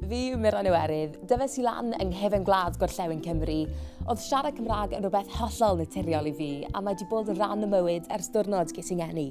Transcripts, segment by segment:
Fi yw Mirain Iwerydd. Dyfes i lan yng nghefn gwlad gorllewin Cymru. Oedd siarad Cymraeg yn rhywbeth hollol naturiol i fi, a mae wedi bod yn rhan o mywyd ers diwrnod ges i'n ngeni.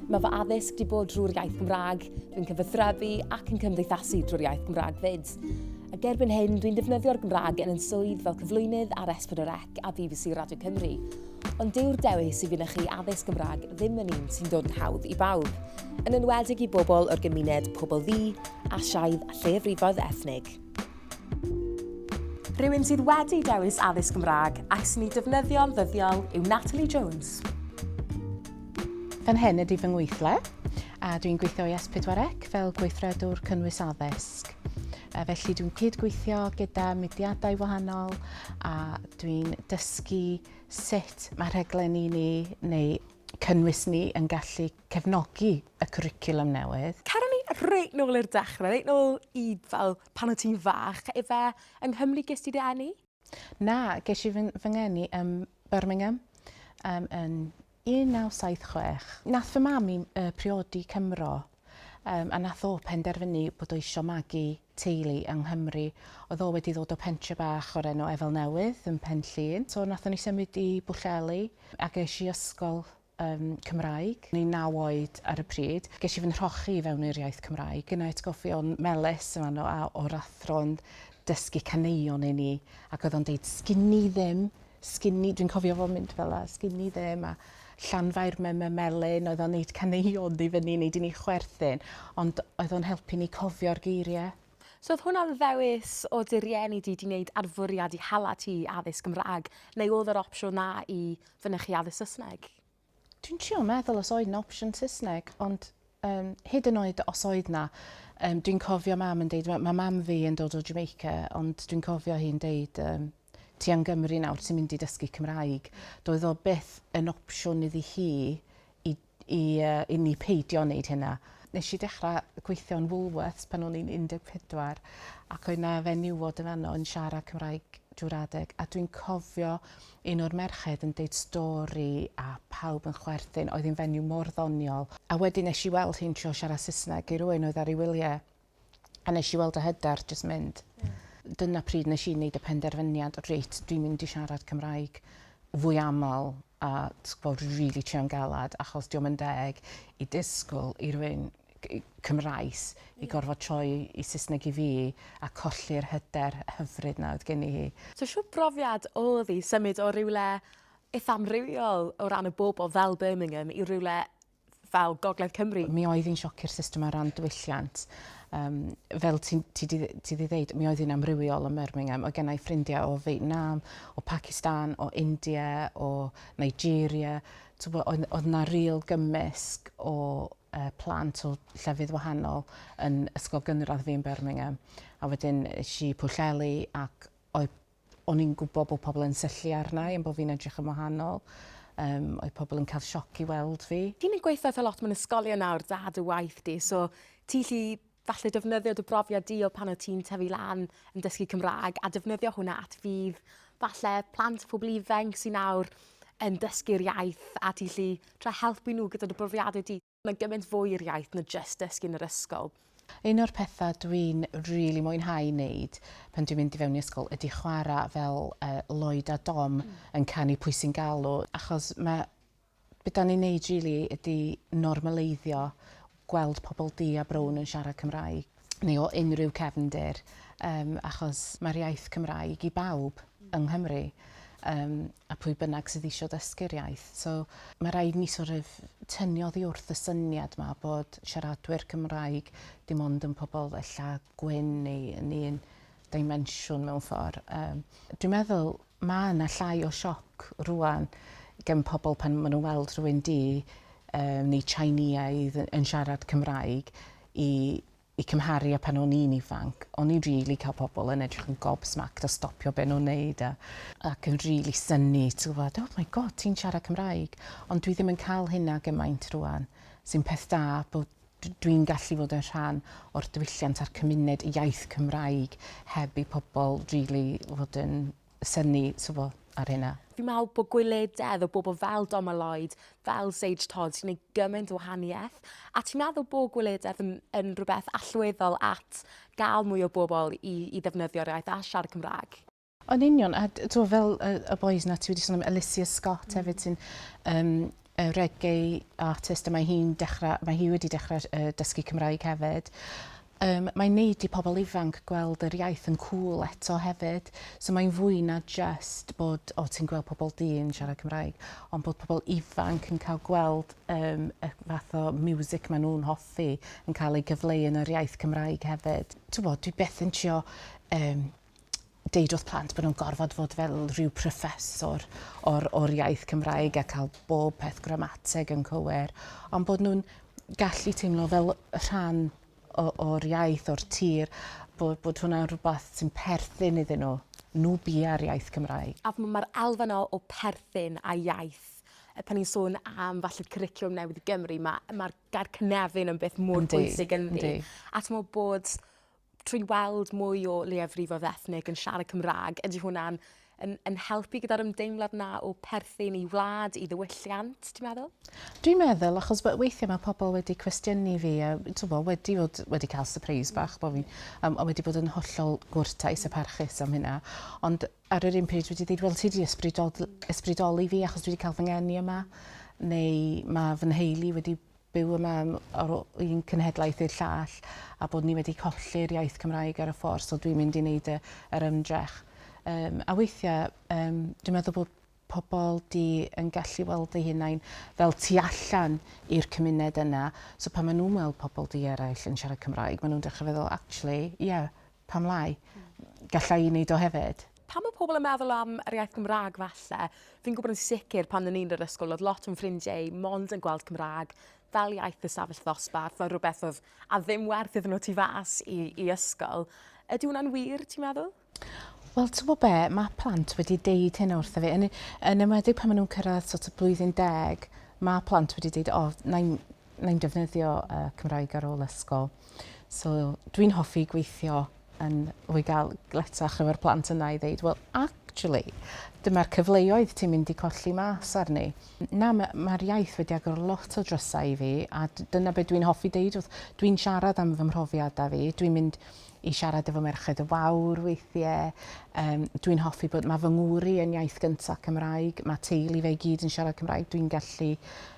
Mae fy addysg wedi bod drwy'r iaith Gymraeg, dwi'n cyfathrebu ac yn cymdeithasu drwy'r iaith Gymraeg fyd. Ac erbyn hyn, dwi'n defnyddio'r Gymraeg yn yn swydd fel cyflwynydd ar S4C. a bbc Radio Cymru. Ond dyw'r dewis i fynychu addysg Gymraeg ddim yn un sy'n dod yn hawdd i bawb, yn enwedig i bobl o'r gymuned pobl ddi, asiaidd a lleiafrifoedd ethnig. Rhywun sydd wedi dewis addysg Gymraeg ac sy'n ei defnyddio'n ddyddiol yw Natalie Jones. Fan hyn ydy fy ngweithle a dwi'n gweithio i S4C fel gweithredwr cynnwys addysg. Felly dwi'n cyd-gweithio gyda mudiadau wahanol a dwi'n dysgu sut mae rhaglenni ni neu cynnwys ni yn gallu cefnogi y cwricwlwm newydd. Caru ni reit nôl i'r dechrau, reit nôl i fel pan o ti'n fach, ife yng Nghymru ges ti dy eni? Na, ges i fy fy ngeni ym Birmingham um, yn 1976. Nath fy mam i uh, priodi Cymro um, a nath o penderfynu bod o eisiau magu teulu yng Nghymru. Oedd o wedi ddod o pentre bach o'r enw Efel Newydd yn Pen Llŷn. So nath ni symud i Bwllheli a ges i ysgol yn Cymraeg. O'n i'n naw oed ar y pryd. Ges i fy nhrochi i fewn i'r iaith Cymraeg. Gynna i atgofion melys yn fanno a o'r athro'n dysgu caneuon i ni ac oedd o'n deud sgini ddim, sgini, dwi'n cofio fo'n mynd fel la, sgini ddim a Llanfair mem y melyn, oedd o'n neud caneuon i fyny i neud i ni chwerthin ond oedd o'n helpu ni cofio'r geiriau. So oedd hwnna'n ddewis o dy rieni di di wneud arfwriad i hala ti i addysg Gymraeg neu oedd yr opsiwn na i fynychu addysg Saesneg? Dwi'n trio meddwl os oedd 'na opsiwn Saesneg ond um, hyd yn oed os oedd 'na um, dwi'n cofio mam yn deud mae mam fi yn dod o Jamaica ond dwi'n cofio hi'n deud um, ti yn Gymru nawr ti'n mynd i dysgu Cymraeg. Doedd o byth yn opsiwn iddi hi i i i ni peidio neud hynna. Nesh i dechra gweithio yn Woolworths pan o'n i'n 14 ac oedd 'na fenywod yn fanno yn siarad Cymraeg drw'r adeg a dwi'n cofio un o'r merched yn deud stori a pawb yn chwerthin oedd 'i'n fenyw mor ddoniol a wedyn nesh i weld hi'n trio siarad Sysneg i rywun oedd ar ei wylie A nesh i weld y hyder jyst mynd. Ie. Dyna pryd nesh i neud y penderfyniad reit dwi'n mynd i siarad Cymraeg fwy amal a t'bo' rili trio'n galad achos 'di o'm yn deg i disgwl i rywun cy- yy Cymraes i gorfod troi i Sysneg i fi a colli'r hyder hyfryd 'na oedd gen i hi. So shwt brofiad odd 'i symud o rywle itha amrywiol o ran y bobol fel Birmingham i rywle fel Gogledd Cymru. Mi oedd hi'n sioc i'r system ar ran diwylliant. Um, fel ti, ti, ti, ti di ddeud, mi oedd hi'n amrywiol ym Birmingham. O gennau ffrindiau o Vietnam, o Pakistan, o India, o Nigeria. Oedd, oedd na real gymysg o uh, plant o llefydd wahanol yn ysgol gynradd fi yn Birmingham. A wedyn si Pwllheli ac oedd O'n i'n gwybod bod pobl yn syllu arna i am bod fi'n edrych yn wahanol. Yym, oedd pobl yn cael sioc i weld fi. Fi'n mynd gweithio eitha lot mewn ysgolion nawr, da dy waith di, so ti llu falle defnyddio dy brofiad di o pan o ti'n tyfu lan yn dysgu Cymraeg a defnyddio hwnna at fydd falle plant pobl ifanc sy'n nawr yn dysgu'r iaith a ti llu tra helpu nhw gyda dy brofiadau di. Mae'n gymaint fwy i'r iaith na jyst dysgu yn yr ysgol. Un o'r pethau dwi'n really mwynhau wneud pan dwi'n mynd i fewn i ysgol ydy chwarae fel uh, Lloyd a Dom mm. yn canu pwy sy'n galw, achos mae beth da ni'n neud really ydy normaleiddio gweld pobl di a brown yn siarad Cymraeg. neu o unrhyw cefndir yym achos mae'r iaith Cymraeg i bawb yng Nghymru yym a pwy bynnag sydd eisiau dysgu'r iaith. So mae rhaid ni sort of tynnu oddi wrth y syniad ma bod siaradwyr Cymraeg dim ond yn pobl ella gwyn neu yn un dimensiwn mewn ffordd. Um, dwi'n meddwl Mae yna llai o sioc rwan gen pobl pan maen nhw'n weld rhywun du yy neu Tsinieaidd yn siarad Cymraeg i i cymharu â pan o'n i'n ifanc. O'n i'n rili cael pobl yn edrych yn gobsmacked a stopio be' nhw'n neud a ac yn rili synnu ti gwbod oh my God ti'n siarad Cymraeg. Ond dwi ddim yn cael hynna gymaint rwan sy'n peth da bod dwi'n gallu fod yn rhan o'r diwylliant a'r cymuned y iaith Cymraeg heb i pobl rili fod yn synnu t'bo ar hynna. Fi'n meddwl bod gwylededd o bobl fel Doma Lloyd, fel Sage Todd sy'n gwneud gymaint o wahaniaeth. A ti'n meddwl bod gwylededd yn, yn rhywbeth allweddol at gael mwy o bobl i, i ddefnyddio'r iaith a siarad Cymraeg? Yn union, a t'wo' fel y y bois 'na ti wedi sôn am Alicia Scott hefyd sy'n um, y reggae artist a mae hi'n dechrau, mae hi wedi dechrau uh, dysgu Cymraeg hefyd. Um, mae'n neud i pobl ifanc gweld yr iaith yn cool eto hefyd. So mae'n fwy na just bod, o, ti'n gweld pobl di yn siarad Cymraeg, ond bod pobl ifanc yn cael gweld um, y fath o music maen nhw'n hoffi yn cael ei gyfleu yn yr iaith Cymraeg hefyd. Ti'n bod, dwi beth yn trio um, deud wrth plant bod nhw'n gorfod fod fel rhyw proffesor o'r, or iaith Cymraeg a cael bob peth gramateg yn cywir, ond bod nhw'n gallu teimlo fel rhan o'r iaith, o'r tir, bod, bod hwnna'n rhywbeth sy'n perthyn iddyn nhw. Nhw bia'r iaith Cymraeg. A mae'r elfen o, o perthyn a iaith e, pan ni'n sôn am falle cwricwlwm newydd i Gymru, mae'r ma, ma gair cynefin yn beth mor bwysig ynddi. A ti'n bod trwy weld mwy o leiafrifoedd ethnig yn siarad Cymraeg, ydy hwnna'n yn, yn helpu gyda'r ymdeimlad na o perthyn i wlad, i ddiwylliant, ti'n meddwl? Dwi'n meddwl, achos fe- weithiau mae pobl wedi cwestiynu fi, a twbo, wedi, fod, wedi cael surprise mm. bach, bo fi, um, a wedi bod yn hollol gwrtais a parchus am hynna. Ond ar yr un pryd wedi dweud, wel, ti wedi ysbrydol, ysbrydoli fi achos dwi wedi cael fy ngeni yma, neu mae fy nheulu wedi byw yma ar ôl un cenhedlaeth i'r llall a bod ni wedi colli'r iaith Cymraeg ar y ffordd so dwi'n mynd i wneud y, yr ymdrech. Um, a weithiau um, dwi'n meddwl bod pobl di yn gallu weld eu hunain fel tu allan i'r cymuned yna. So pan maen nhw'n weld pobl di eraill yn siarad Cymraeg, maen nhw'n dechrau feddwl, actually, ie, yeah, pam lai? Gallai i wneud o hefyd. Pan mae pobl yn meddwl am yr iaith Gymraeg falle, fi'n gwybod yn sicr pan o'n i'n yr ysgol oedd lot o'n ffrindiau i mond yn gweld Cymraeg fel iaith y safell ddosbarth, fel rhywbeth oedd a ddim werth iddyn nhw tu fas i, i ysgol. Ydy hwnna'n wir, ti'n meddwl? Wel, ti'n gwybod be, mae plant wedi deud hyn wrth fi, yn, yn ymwedig pan maen nhw'n cyrraedd sort of blwyddyn deg, mae plant wedi deud, o, oh, na'n mae'n defnyddio uh, Cymraeg ar ôl ysgol. So dwi'n hoffi gweithio yn rhoi gael gletach efo'r plant yna i ddeud, well, actually, dyma'r cyfleoedd ti'n mynd i colli mas arni. Na, mae'r ma iaith wedi agor lot o drysau i fi, a dyna beth dwi'n hoffi deud wrth dwi'n siarad am fy mhrofiadau fi. Dwi'n mynd i siarad efo merched y wawr weithiau. Um, dwi'n hoffi bod mae fy ngwri yn iaith gyntaf Cymraeg, mae teulu fe gyd yn siarad Cymraeg, dwi'n gallu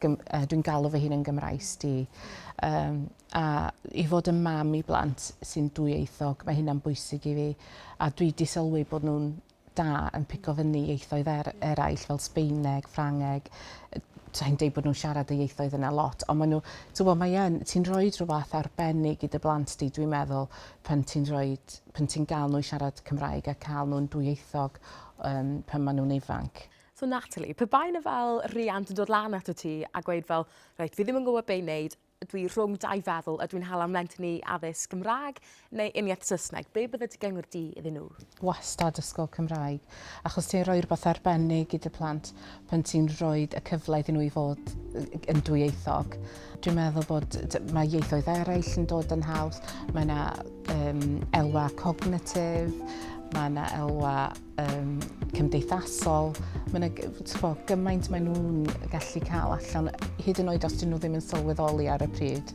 dwi'n galw fy hun yn Gymraes di. Um, a i fod yn mam i blant sy'n dwyieithog, mae hynna'n bwysig i fi. A dwi di sylwi bod nhw'n da yn pico fyny ieithoedd er, eraill fel Sbeineg, Ffrangeg. Ti'n deud bod nhw'n siarad y ieithoedd yna lot, ond maen nhw, ti'n bod, mae yn, ti'n rhoi rhywbeth arbennig i dy blant di, dwi'n meddwl, pan ti'n rhoi, pan ti'n gael nhw i siarad Cymraeg a cael nhw'n dwyieithog um, pan maen nhw'n ifanc. So Natalie, pe bai na fel riant yn dod lan ato ti a gweud fel, reit, fi ddim yn gwybod be i wneud, dwi rhwng dau feddwl, ydw i'n hala mlentyn i addysg Gymraeg neu uniaith Saesneg, be bydde dy gyngor di iddyn nhw? Wastad ysgol Cymraeg, achos ti'n rhoi rhywbeth arbennig i dy plant pan ti'n rhoi y cyfle iddyn nhw i fod yn dwyieithog. Dwi'n meddwl bod mae ieithoedd eraill yn dod yn haws, mae yna um, elwa cognitif, mae yna elwa um, cymdeithasol. Mae yna gymaint maen nhw'n gallu cael allan, hyd yn oed os dyn nhw ddim yn sylweddoli ar y pryd.